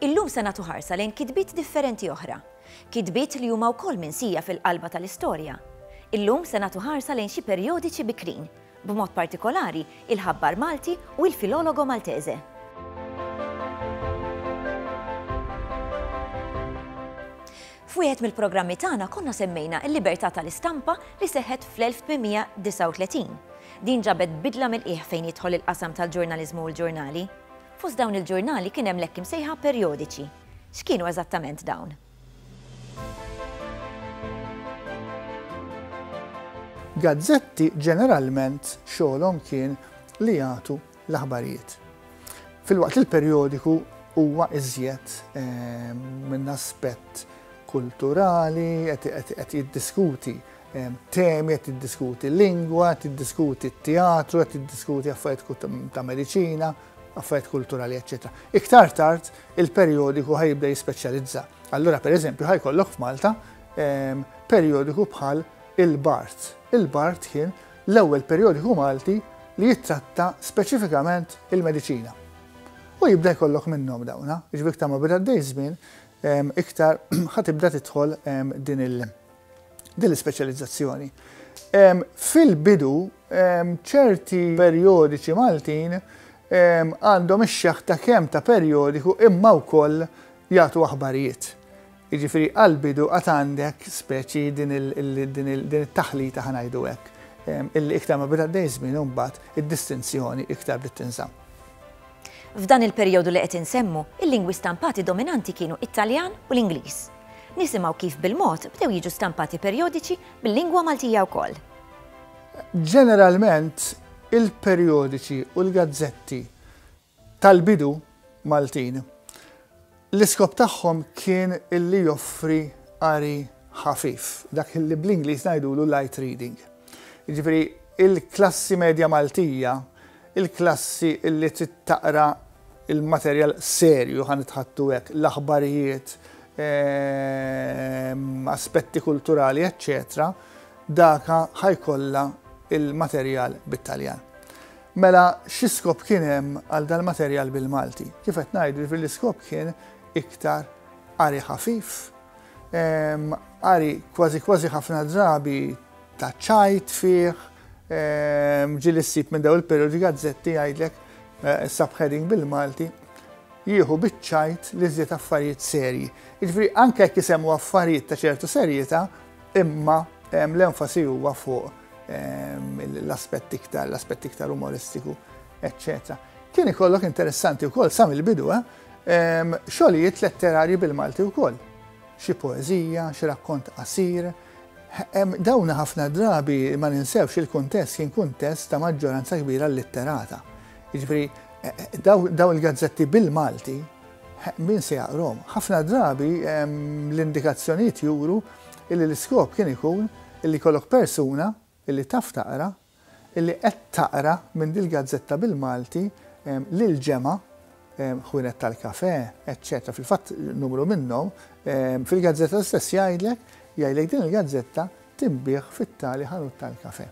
Illum se nagħtu ħarsa lejn kitbiet differenti oħra, kitbiet li huma wkoll minsija fil-qalba tal-istorja. Illum se nagħtu ħarsa lejn xi perjodiċi bikrin b'mod partikolari, il-ħabbar Malti u il-Filologo Maltese. F'wieħed mill-programmi tagħna konna semmejna l-libertà tal-istampa li seħħet fl-1839. Din ġabet bidla mill-qiegħ fejn jidħol il-qasam tal-ġurnaliżmu u l-ġurnali. Fost dawn il-ġurnali kien hemm l-hekk imsejħa perjodiċi. X'kienu eżattament dawn? Gazzetti ġeneralment xogħolhom kien li jagħtu l-aħbarijiet. Filwaqt li l-perjodiku huwa iżjed ehm, minn aspett kulturali, qed jiddiskuti ehm, temi, qed jiddiskuti lingwa, qed jiddiskuti teatru, qed jiddiskuti affarijiet ta' mediċina, affarijiet kulturali, ecc. Iktar tard il-perjodiku ħa jibda jispeċjalizza. Allura per eżempju ħa jkollok f'Malta ehm, perjodiku bħal il-Bart. Il-Bart kien l-ewwel perjodiku Malti li jittratta speċifikament il-mediċina. U jibda jkollok minnhom dawna, ġbik ta' ma bida d żmien ehm, iktar ħatibda tidħol ehm, din il- din l-ispeċjalizzazzjoni. Fil-bidu ċerti perjodiċi Maltin għandhom ix-xeħħ ta' kemm ta' perjodiku imma wkoll jagħtu aħbarijiet. Jiġifieri għall-bidu għad għandek speċi din it-taħlita ħa ngħidu hekk, illi iktar ma beda għaddej iż-żmien imbagħad id-distinzjoni iktar bdiet tinżamm. F'dan il-perjodu li qed insemmu, il-lingwi stampati dominanti kienu t-Taljan u l-Ingliż. Nisimgħu kif bil-mod bdew jiġu stampati perjodiċi bil-lingwa Maltija wkoll. Ġeneralment, il-perjodiċi u l-gazzetti tal-bidu Maltin, l-iskop tagħhom kien li joffri qari ħafif, dak li bl-Ingliż ngħidulu light reading. Jiġifieri l-klassi medja Maltija, il-klassi li trid taqra l-materjal serju, ħa nitħattu hekk, l-aħbarijiet, aspetti kulturali, eċċetera, Daka ħa jkollha l-materjal bit-Taljan. Mela xi skop kien hemm għal dal-materjal bil-Malti? Kif qed ngħidu jiġifieri l-iskop kien iktar qari ħafif, ehm, qari kważi kważi ħafna drabi ta' ċajt fih, ehm, ġili ssib minn daw il-periodi gazzetti jgħidlek eh, subheading bil-Malti jieħu biċċajt li żiet affarijiet serji. Jiġifieri anke jekk jisemmu affarijiet ta' ċertu serjeta, Imma l-enfasi huwa fuq l-aspett iktar, l-aspett iktar umoristiku, eccetera. Kien ikollok interessanti wkoll sa mill-bidu, eh? xogħlijiet letterarji bil-Malti wkoll. Xi poeżija, xi rakkont qasir. Dawn ħafna drabi ma ninsewx il-kuntest kien kuntest ta' maġġoranza kbira litterata. Jiġifieri daw il-gazzetti bil-Malti Min se jaqrom? Ħafna drabi l-indikazzjonijiet juru li l-iskop kien ikun li jkollok persuna li taf taqra li qed taqra minn dil-gazzetta bil-Malti lill-ġemgħa, ħwienet tal-kafè, eċċetera Fil-fatt numru minnhom fil-gazzetta stess jgħidlek, jgħidlek din il-gazzetta tinbiegħ fit-tali ħanut tal-kafè.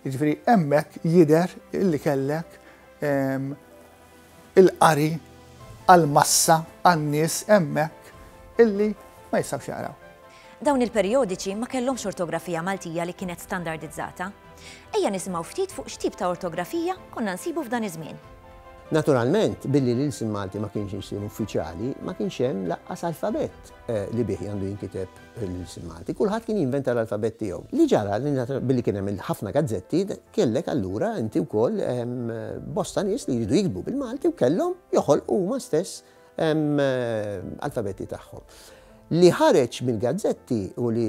Jiġifieri hemmhekk jidher li kellek il-qari għall-massa, għan-nies hemmhekk illi ma jistgħux jaqraw. Dawn il-perjodiċi ma kellhomx ortografija Maltija li kienet standardizzata. Ejja nisimgħu ftit fuq x'tip ta' ortografija konna nsibu f'dan iż-żmien. Naturalment, billi l-ilsien Malti ma kienx ilsien uffiċjali, ma kienx hemm lanqas alfabett eh, li bih għandu jinkiteb il-ġimgħati, kulħadd kien jinventa l-alfabett tiegħu. Li ġara li billi kien hemm ħafna gazzetti, kellek allura inti wkoll bosta nies li jridu jiktbu bil-Malti u kellhom joħolqu huma stess alfabetti tagħhom. Li ħareġ mill-gazzetti u li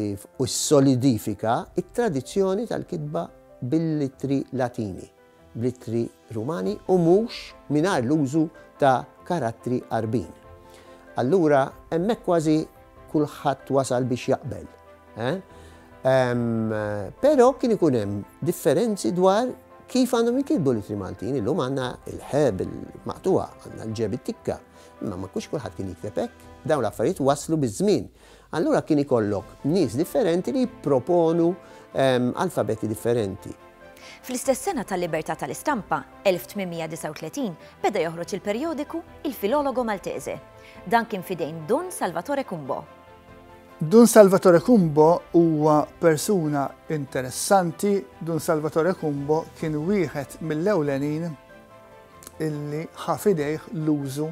solidifika it-tradizzjoni tal-kitba bil-litri Latini. bl-ittri Rumani u mhux mingħajr l-użu ta' karattri Għarbin. Allura hemmhekk kważi kulħadd wasal biex jaqbel. Però kien ikun hemm differenzi dwar kif għandhom jinkitbu l-ittri Maltin. Illum għandna il-ħe bil-maqtuha, għandna l-ġe bit-tikka. Imma ma kux kulħadd kien jikteb hekk. Dawn l-affarijiet waslu biż-żmien. Allura kien ikollok nies differenti li jipproponu alfabeti differenti. Fl-istess sena tal-libertà tal-istampa, 1839, beda joħroġ il-perjodiku Il Filologo Maltese. Dan kien f'idejn Dun Salvatore Cumbo. Dun Salvatore Cumbo huwa persuna interessanti, Dun Salvatore Cumbo kien wieħed mill-ewlenin illi ħa f'idejh l-użu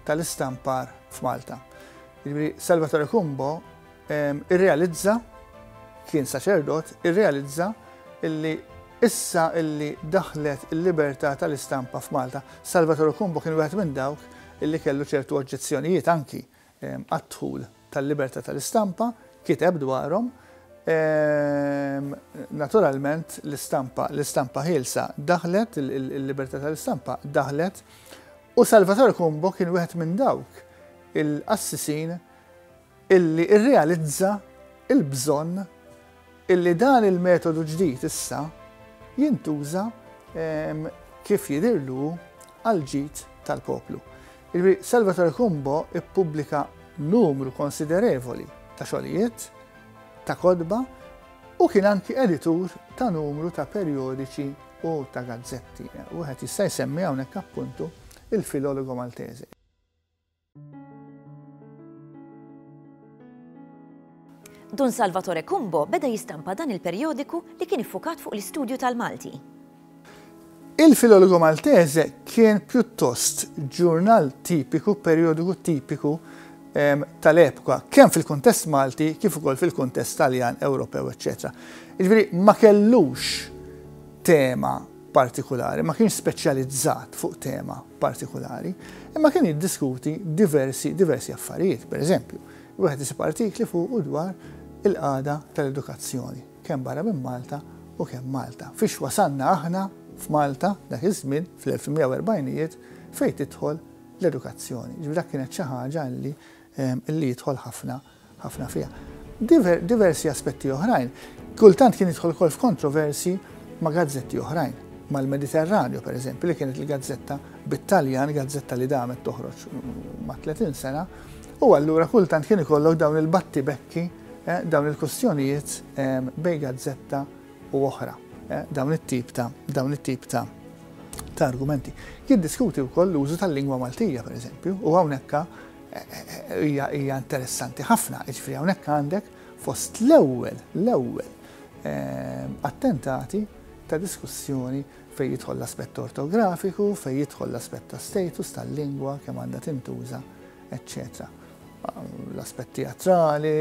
tal-istampar f'Malta. Jiġifieri Salvatore Cumbo irrealizza, kien saċerdot, irrealizza illi issa illi daħlet il-libertà tal-istampa f'Malta. Salvatore Cumbo kien wieħed minn dawk illi kellu ċertu oġġezzjonijiet anki għad-dħul tal-libertà tal-istampa, kiteb dwarhom. Naturalment l-istampa, l-istampa ħielsa daħlet, il-libertà tal-istampa daħlet U Salvatore Cumbo kien wieħed minn dawk il-qassisin illi rrealizza l-bżonn illi dan il-metodu ġdid issa jintuża kif jidhirlu hu għall-ġid tal-poplu. Jiġifieri Salvatore Cumbo ppubblika numru konsiderevoli ta' xogħlijiet, ta' kotba u kien anki editur ta' numru ta' perjodiċi u ta' gazzetti. Wieħed jista' jsemmi hawnhekk appuntu Il Filologo Maltese. Dun Salvatore Cumbo beda jistampa dan il-perjodiku li kien iffukat fuq l-istudju tal-Malti. Il Filologo Maltese kien pjuttost ġurnal tipiku, perjodiku tipiku tal-epoka, kemm fil-kuntest Malti kif ukoll fil-kuntest Taljan, Ewropew, eċċetera. Jiġifieri ma kellux tema partikulari, ma kienx speċjalizzat fuq tema partikulari, imma kien jiddiskuti diversi, diversi affarijiet, per eżempju, wieħed isib artikli fuq u dwar il-qada tal-edukazzjoni, kemm barra minn Malta u kemm Malta. Fiex wasanna aħna f'Malta dak iż-żmien fl-1940ijiet fejn tidħol l-edukazzjoni. Jiġifieri dak kienet xi ħaġa li li jidħol ħafna ħafna fiha. Diver, diversi aspetti oħrajn. Kultant kien jidħol ukoll f'kontroversi ma' gazzetti oħrajn mal-Mediterranju, per eżempju, li kienet il-gazzetta bit-Taljan, gazzetta li damet toħroġ ma' 30 sena, u allura kultant kien ikollok dawn il-batti bekki, eh, dawn il-kustjonijiet eh, bej gazzetta u oħra. Dawn it-tip ta' dawn it-tip ta' ta' argumenti. Jiddiskuti wkoll l-użu tal-lingwa Maltija, pereżempju, u hawnhekk hija hija interessanti ħafna, jiġifieri hawnhekk għandek fost l-ewwel l-ewwel attentati ta' diskussjoni fejn jidħol l-aspett ortografiku, fejn jidħol l-aspett ta' status tal-lingwa, kemm għandha tintuża, eċċetera. L-aspett teatrali,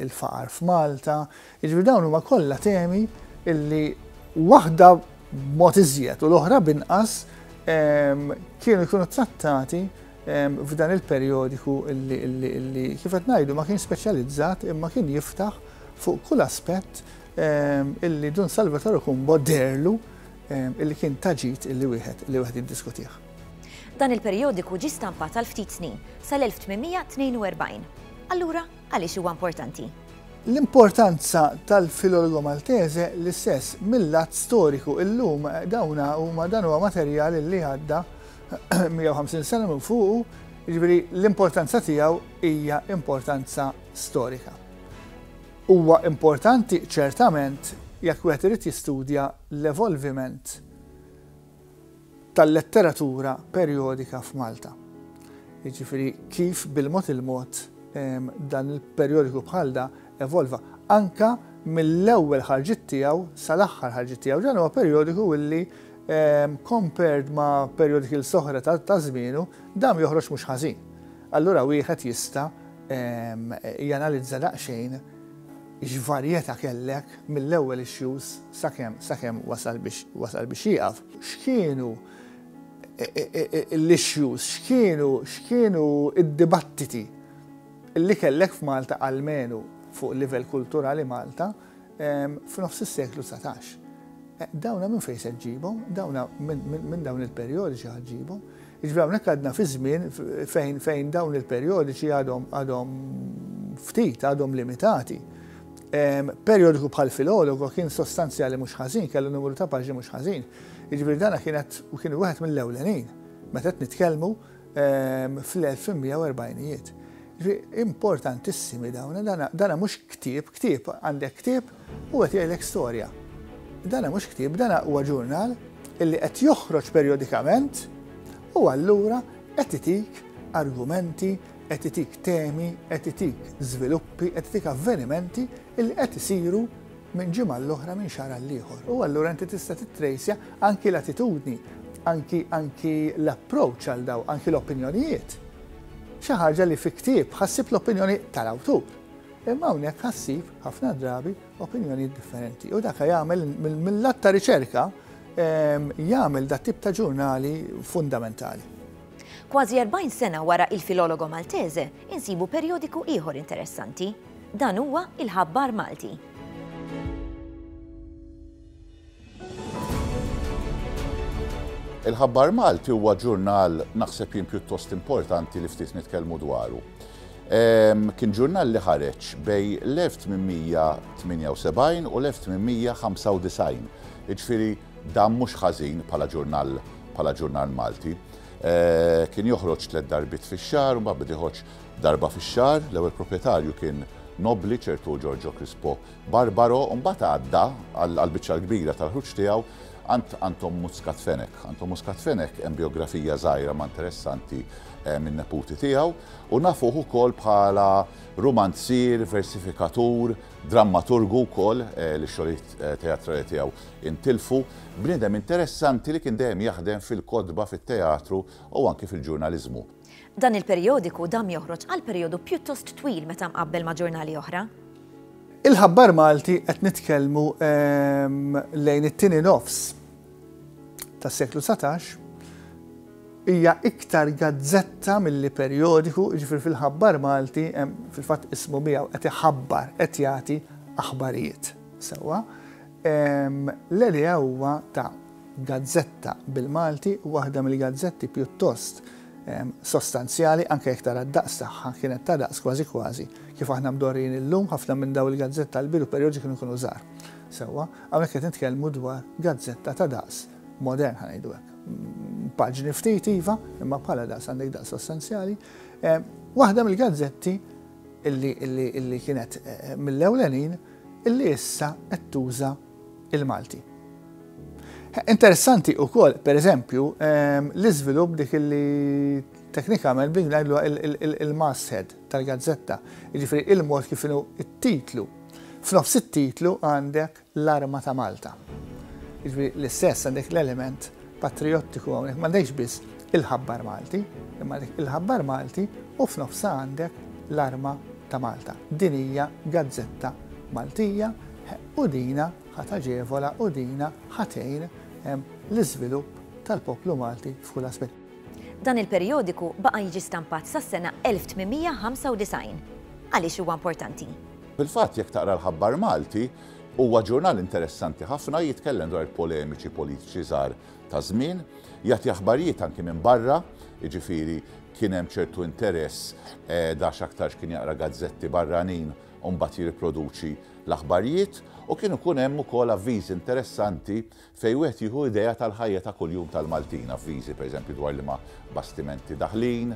il-faqar f'Malta, Jiġifieri dawn huma kollha temi li waħda b'mod iżjed u l-oħra b'inqas kienu jkunu ttrattati f'dan il-perjodiku li kif qed ngħidu ma kien speċjalizzat imma kien jiftaħ fuq kull aspett li Dun Salvatore Cumbo deherlu li kien ta' ġid li wieħed jiddiskutih. Dan il-perjodiku ġie stampat għal ftit snin, sal-1842. Allura? Għaliex huwa importanti? L-importanza tal-Filologo Maltese l-istess mil-lat storiku. Illum dawn huma dan huwa materjal li għadda 150 sena minn fuqu, jiġifieri l-importanza tiegħu hija importanza storika. Huwa importanti ċertament jekk wieħed irid jistudja l-evolviment tal-letteratura perjodika f'Malta. Jiġifieri kif bil-mod il-mod dan il-perjodiku bħal da evolva. Anka mill-ewwel ħarġiet tiegħu sal-aħħar ħarġiet tiegħu. Dan huwa perjodiku illi compared ma' perjodiki l-soħra ta' żmienu, dam joħroġ mhux ħażin. Allura wieħed jista' janalizza daqsxejn. X'varjetà kellek mill-ewwel issues sakemm sakemm wasal biex wasal biex jieqaf? X'kienu l-issues, x'kienu x'kienu d-dibattiti li kellek f'Malta almenu fuq livell kulturali Malta f'nofs is-seklu dsatax? Dawna minn fejn se ġġibhom? Dawna minn dawn il-perjodi xi ħadd ġibhom? Jiġifieri hawnhekk għadna fi żmien fejn fejn dawn il-perjodiċi għadhom għadhom ftit, għadhom limitati. Perjodiku bħal filologo kien sostanzjali mhux ħażin, kellu numru ta' paġni mhux ħażin. Jiġifieri dana kienet u kien wieħed mill-ewlenin meta qed nitkellmu fl-1840ijiet. Importantissimi dawn, dana mhux ktieb, ktieb għandek ktieb U qed jgħidlek storja. Dan mhux ktieb, dan huwa ġurnal illi qed joħroġ perjodikament u allura qed itik argumenti, qed itik temi, qed itik żviluppi, qed itik avvenimenti illi qed isiru minn ġimgħa l-oħra minn xahar għall-ieħor. U allura inti tista' tittrejsja anki l-attitudni, anki anki l-approach għal daw, anki l-opinjonijiet. Xi ħaġa li fi ktieb ħassib l-opinjoni tal-awtur. Imma hawnhekk ħassib ħafna drabi opinjonijiet differenti. U dak jagħmel mill-lat ta' riċerka ehm, jagħmel dat tip ta' ġurnali fundamentali. Kważi 40 sena wara il-filologo Maltese, insibu perjodiku ieħor interessanti. Dan huwa il-ħabbar Malti. Il-Ħabbar Malti huwa ġurnal naħseb jien pjuttost importanti li ftit nitkellmu dwaru. Ehm, kien ġurnal li ħareġ bej l-1878 u l-1895. Iġfiri, dan mhux ħażin bħala ġurnal bħala ġurnal Malti. Eh, kien joħroġ tliet darbit fix-xahar, ma bdiħoġ darba fix-xahar, l-ewwel proprjetarju kien Nobli ċertu Giorgio Crispo Barbaro mbagħad għadda għall-biċċa l-kbira tal-ħruġ tiegħu għand Anton Muscat Fenech. Anton Muscat Fenech hemm bijografija żgħira ma interessanti eh, min-neputi tiegħu u nafuh ukoll bħala rumanzier, versifikatur, drammaturgu wkoll eh, li xogħlijiet eh, teatrali tiegħu intilfu, bniedem interessanti li kien dejjem jaħdem fil-kotba, fit-teatru u anki fil-ġurnaliżmu. Dan il-perjodiku dam joħroġ għal perjodu pjuttost twil meta mqabbel ma' ġurnali oħra. Il-ħabbar Malti qed nitkellmu ehm, lejn it-tieni nofs tas-seklu 19 hija iktar gazzetta milli perjodiku, ġifir fil-ħabbar Malti, fil-fatt ismu miegħu qed iħabbar, qed jagħti aħbarijiet. Sewwa, L-Elea huwa ta' gazzetta bil-Malti, waħda mill-gazzetti pjuttost sostanzjali, anke jekk tara d-daqs tagħha, kienet ta' daqs kważi kważi kif aħna mdorrijin illum, ħafna minn dawn il-gazzett tal-bidu perjodi kienu jkunu żgħar. Sewwa, hawnhekk qed nitkellmu dwar gazzetta ta' daqs modern, ħa ngħidu hekk. Paġni ftit iva, imma bħala daqs għandek daqs sostanzjali. Waħda mill-gazzetti illi kienet mill-ewlenin li issa qed tuża il-Malti. Interessanti u kol, per eżempju, ehm, l-izvilup dik li teknikament blik najdlu il-masthead tal-gazzetta, ġifri il-mod kif inu il-titlu. F'nofs il-titlu għandek l-arma ta' Malta. Ġifri l-istess għandek l-element patrijottiku hawnhekk m'għandekx biss il-ħabbar Malti, imma għandek il-ħabbar Malti u f'nofsha għandek l-arma ta' Malta. Din hija gazzetta Maltija u dina ħat aġevola u dina ħatejn l-iżvilupp tal-poplu Malti f'kull aspett. Dan il-perjodiku baqa' jiġi stampat sas-sena 1895. Għaliex huwa importanti? Fil-fatt jekk taqra l-ħabbar Malti, Huwa ġurnal interessanti ħafna, jitkellem dwar il-polemiċi politiċi żgħar taż-żmien, jagħti aħbarijiet anki minn barra, jiġifieri kien hemm ċertu interess għax aktarx kien jaqra gazzetti barranin u mbagħad jirriproduċi l-aħbarijiet u kienu jkun hemm ukoll avviżi interessanti fejn wieħed jieħu idea tal-ħajja ta' kuljum tal-Maltin, avviżi pereżempju dwar liema bastimenti daħlin,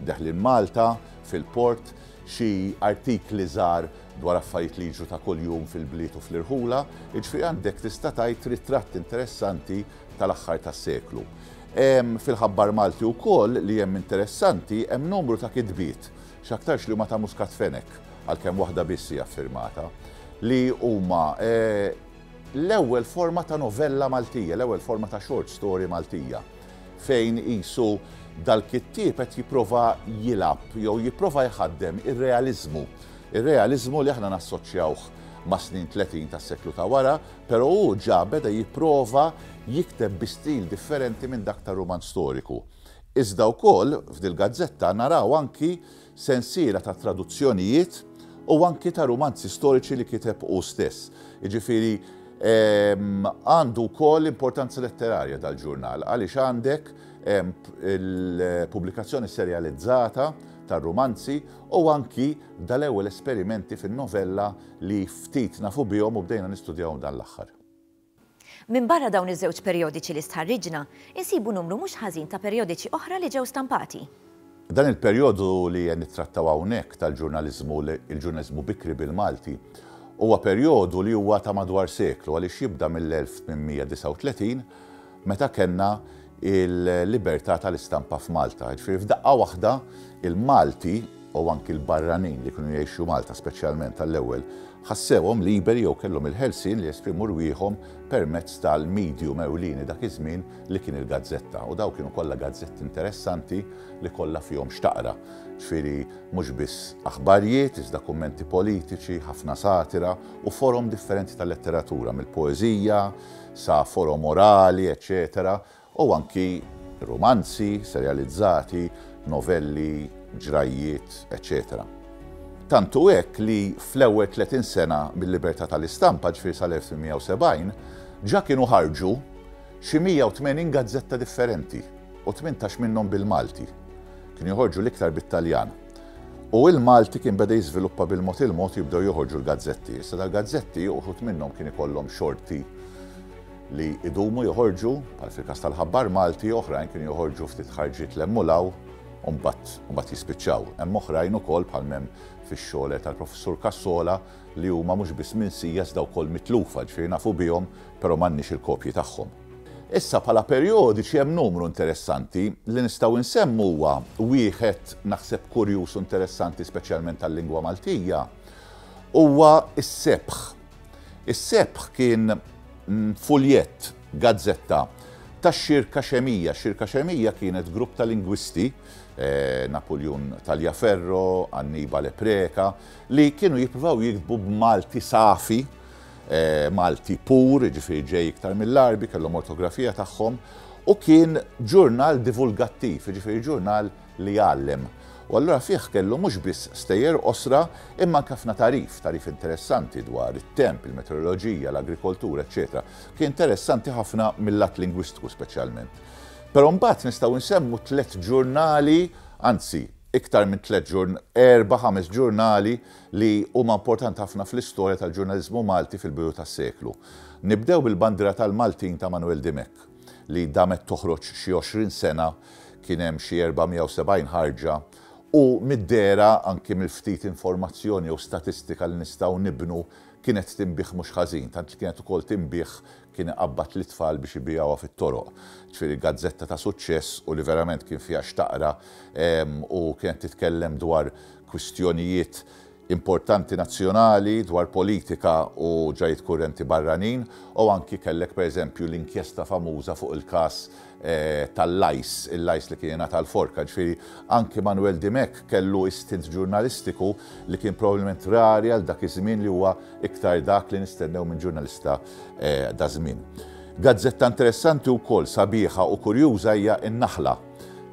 deħlin Malta, fil-port, xi artikli żgħar dwar affarijiet li jiġru ta' kuljum fil-bliet u fl-irħula, jiġifieri għandek tista' tgħid ritratt interessanti tal-aħħar tas-seklu. Hemm fil-Ħabbar Malti wkoll li hemm interessanti, hemm numru ta' kitbiet, x'aktarx li huma ta' Muscat Fenech, għalkemm waħda biss hi affirmata, li huma L-ewwel forma ta' novella Maltija, l-ewwel forma ta' short story Maltija, fejn qisu dal-kittieb qed jipprova jilgħab jew jipprova jħaddem ir-realiżmu, ir-realiżmu li aħna nassoċjawh mas-snin tletin tas-seklu ta' wara, però hu ġa beda jipprova jikteb bi stil differenti minn dak tar-rumanz storiku. Iżda wkoll, f'dil-gazzetta naraw anki sensiela ta' traduzzjonijiet u anki ta' rumanzi storiċi li kiteb hu stess. Jiġifieri għandu wkoll importanza letterarja dal-ġurnal għaliex għandek il-pubblikazzjoni serjalizzata tar-rumanzi u anki dal-ewwel esperimenti fin-novella li ftit nafu bihom u bdejna nistudjahom dan l-aħħar. Minbarra dawn iż-żewġ perjodiċi li stħarriġna, insibu numru mhux ħażin ta' perjodiċi oħra li ġew stampati. Dan il-perjodu li qed nittrattaw hawnhekk tal-ġurnaliżmu, il-ġurnaliżmu bikri bil-Malti, huwa perjodu li huwa ta' madwar seklu għaliex jibda mill-1839 meta kellna il-libertà tal-istampa f'Malta. Jiġifieri f'daqqa waħda il-Malti u anki l-barranin li kienu jgħixu Malta speċjalment għall-ewwel ħassewhom liberi jew kellhom il-ħelsien li jesprimu rwieħhom permezz tal-medium ewlieni dak iż-żmien li kien il-gazzetta u dawn kienu kollha gazzetti interessanti li kollha fihom x'taqra. Ġifieri mhux biss aħbarjiet iżda kummenti politiċi, ħafna satira u forom differenti tal-letteratura mill-poeżija, sa forom orali, eċċetera u anki rumanzi, serjalizzati, novelli, ġrajjiet, eċċetera Tant hu hekk li fl-ewwel 30 sena mil-libertà tal-istampa, ġifieri sal-1870, ġa kienu ħarġu xi 180 gazzetta differenti u tmintax minnhom bil-Malti. Kienu joħorġu l-iktar bit-Taljan. U il-Malti kien beda jiżviluppa bil-mod il-mod jibdew joħorġu l-gazzetti. Issa dal-gazzetti uħud minnhom kien ikollhom xorti li idumu joħorġu, bħal fil-każ tal-ħabbar Malti, oħrajn kienu joħorġu ftit ħarġiet l-emmulaw, u mbagħad jispiċċaw. Hemm oħrajn ukoll bħal m'hemm fix-xogħlet tal-Professur Cassola li huma mhux biss minsija iżda wkoll mitlufa, ġifieri nafu bihom però m'għandniex il-kopji tagħhom. Issa bħala perjodiċi hemm numru interessanti. Li nistgħu insemmu huwa wieħed naħseb kurjuż u interessanti speċjalment għal-lingwa Maltija huwa s-sebħ. Is-sebħ kien mm, fuljett, gazzetta tax-Xirka Xemija. Xirka Xemija kienet grupp ta' lingwisti eh, Napoleon Taljaferro, Annibale Preka, li kienu jippruvaw jiktbu b'Malti safi Malti pur, jiġifieri ġej iktar mill-Għarbi, kellhom ortografija tagħhom, u kien ġurnal divulgattiv, jiġifieri ġurnal li jgħallem. U allura fih kellu mhux biss stejjer qosra, imma anke ħafna tagħrif, tagħrif interessanti dwar it-temp, il-meteoroloġija, l-agrikoltura, eċċetera. Kien interessanti ħafna mil-lat lingwistiku speċjalment. Però mbagħad nistgħu nsemmu tliet ġurnali, anzi, iktar minn tliet ġurnali, erba' ħames ġurnali li huma importanti ħafna fl-istorja tal-ġurnaliżmu Malti fil-bidu tas-seklu. Nibdew bil-bandiera tal-Maltin ta' Manwel Dimech, li damet toħroġ xi għoxrin sena, kien hemm xi 470 ħarġa, u mid-dehra, anki mill-ftit informazzjoni jew statistika li nistgħu nibnu, kienet tinbiegħ mhux ħażin, tant li kienet ukoll tinbiegħ kien iqabbad lit-tfal biex ibiegħuha fit-toroq. Ġifieri gazzetta ta' suċċess u li verament kien fiha x'taqra u kienet titkellem dwar kwistjonijiet importanti nazzjonali, dwar politika u ġrajjiet kurrenti barranin u anki kellek pereżempju l-inkjesta famuża fuq il-każ tal-lajs, il-lajs li kien jingħata l-forka. Ġifieri anki Manuel Dimech kellu istint ġurnalistiku li kien probabbilment rari għal dak iż-żmien li huwa iktar dak li nistennew minn ġurnalista daż-żmien. Gazzetta interessanti wkoll, sabiħa u kurjuża hija n-Naħla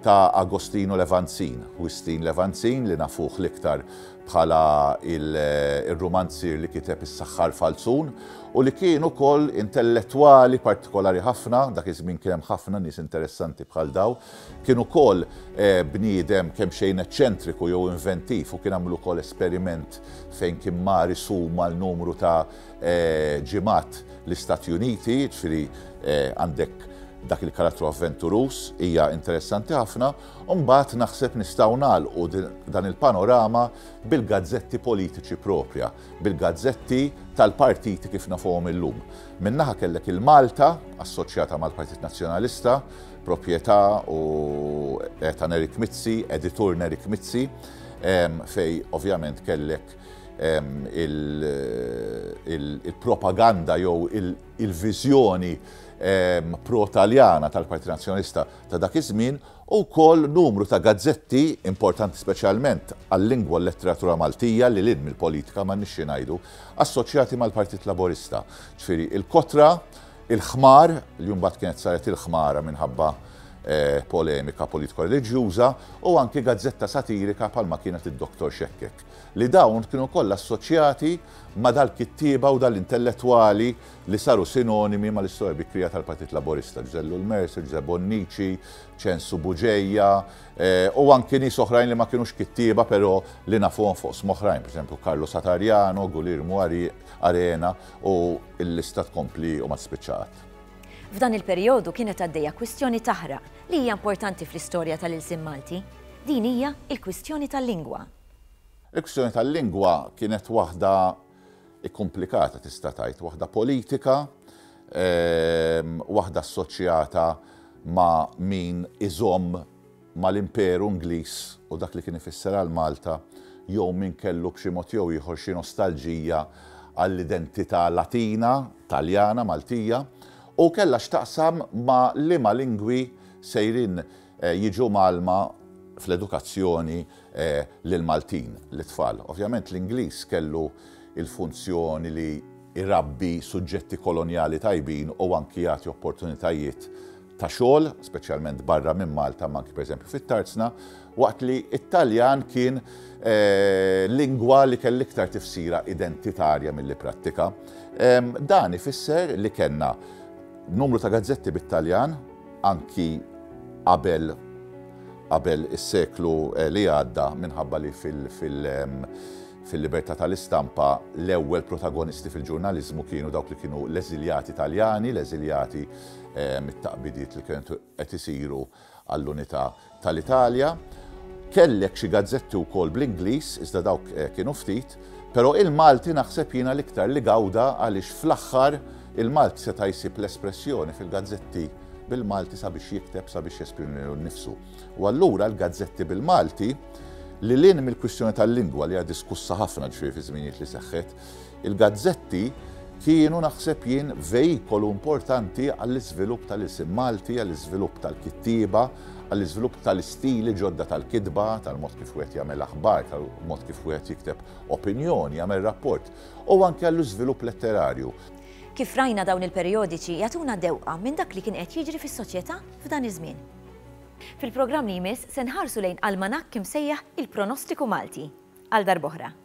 ta' Agostino Levanzin, Wistin Levanzin li nafuh l-iktar bħala r-rumanzier li kiteb Is-Saħħar Falzun u li kien ukoll intellettwali partikolari ħafna, dak iż-żmien kien hemm ħafna nies interessanti bħal dawn, kien ukoll bniedem kemxejn eċċentriku jew inventiv u kien għamel ukoll esperiment fejn kien mar isum għal numru ta' ġimgħat l-Istati Uniti, jiġifieri għandek dak il-karattru avventuruż, hija interessanti ħafna. U mbagħad naħseb nistgħu nagħlqu dan il-panorama bil-gazzetti politiċi proprja, bil-gazzetti tal-partiti kif nafuhom illum. Minn naħa kellek il-Malta, assoċjata mal-Partit Nazzjonalista, propjetà u eh, ta' Nerik Mizzi, editur Nerik Mizzi, fej ovvjament kellek il-propaganda jew il-viżjoni pro-Taljana tal-Partit Nazzjonalista ta' dak iż-żmien u wkoll numru ta' gazzetti importanti speċjalment għal-lingwa u l-letteratura Maltija lil hinn mill-politika m'għandniex xi ngħidu, assoċjati mal-Partit Laburista. Ġifieri il-Kotra, il-Ħmar, li mbagħad kienet saret il-Ħmara minħabba polemika politiko-reliġjuża, u anki gazzetta satirika bħalma kienet id-Doktor Xekkek. Li dawn kienu kollha assoċjati ma' dal-kittieba u dal-intellettwali li saru sinonimi mal-istorja bikrija tal-Partit Laburista, Ġużè Lulmercer, Ġużè Bonnici, Ċensu Bugeja, u anki nies oħrajn li ma kinux kittieba però li nafuhom f'oqsma oħrajn, pereżempju Carlo Satariano, Guglielmu Arena u l-lista tkompli u ma tispiċċa qatt. F'dan il-perijodu kienet għaddejja kwistjoni taħraq li hija importanti fl-istorja tal-ilsien Malti. Din hija l-kwistjoni tal-lingwa. Il-kwistjoni tal-lingwa kienet waħda Ikkumplikata tista' tgħid, waħda politika, waħda assoċjata ma' min iżomm mal-Imperu Ingliż u dak li kien ifisser għal Malta jew min kellu b'xi mod jew ieħor xi nostalġija għall-identità Latina, Taljana, Maltija u kellha x'taqsam ma' liema lingwi sejrin Jiġu mgħallma fl-edukazzjoni l-Maltin, l-itfal. Ovvjament l-Ingliż kellu l-funzjoni li jrabbi suġġetti kolonjali tajbin u anki jagħti opportunitajiet ta' xogħol, speċjalment barra minn Malta imma anki pereżempju fit-Tarzna, waqt li t-Taljan kien lingwa li kelli iktar tifsira identitarja milli prattika. Dan ifisser li kellna numru ta' gazzetti bit-Taljan, anki qabel qabel is-seklu li għadda minħabba li fil-libertà tal-istampa l-ewwel protagonisti fil-ġurnaliżmu kienu dawk li kienu l-eżiljati Taljani, l-eżiljati mit-taqbidiet li kienu qed isiru għall-unità tal-Italja, kellek xi gazzetti wkoll bl-Ingliż, iżda dawk kienu ftit, però il-Malti naħseb jiena l-iktar li gawda għaliex fl-aħħar il-Malti seta' jsib l-espressjoni fil-gazzetti bil-Malti sabiex jikteb, sabiex jesprimi lilu nnifsu. U allura l-gazzetti bil-Malti, lil hinn mill-kwistjoni tal-lingwa li hija diskussa ħafna ġifieri fiż-żminijiet li seħħet, Il-gazzetti kienu naħseb jien vejkolu importanti għall-iżvilupp tal-ilsien Malti, għall-iżvilupp tal-kittieba, għall-iżvilupp tal-istili ġodda tal-kitba, tal-mod kif wieħed jagħmel aħbar, tal-mod kif wieħed jikteb opinjoni, jagħmel rapport, u anke għall-iżvilupp letterarju. Kif rajna dawn il-perijodiċi jagħtuna dewqa minn dak li kien qed jiġri fis-soċjetà f'dan iż-żmien. Fil-programm li jmiss se nħarsu lejn almanakk imsejjaħ Il-Pronostiku Malti. Għal darb'oħra.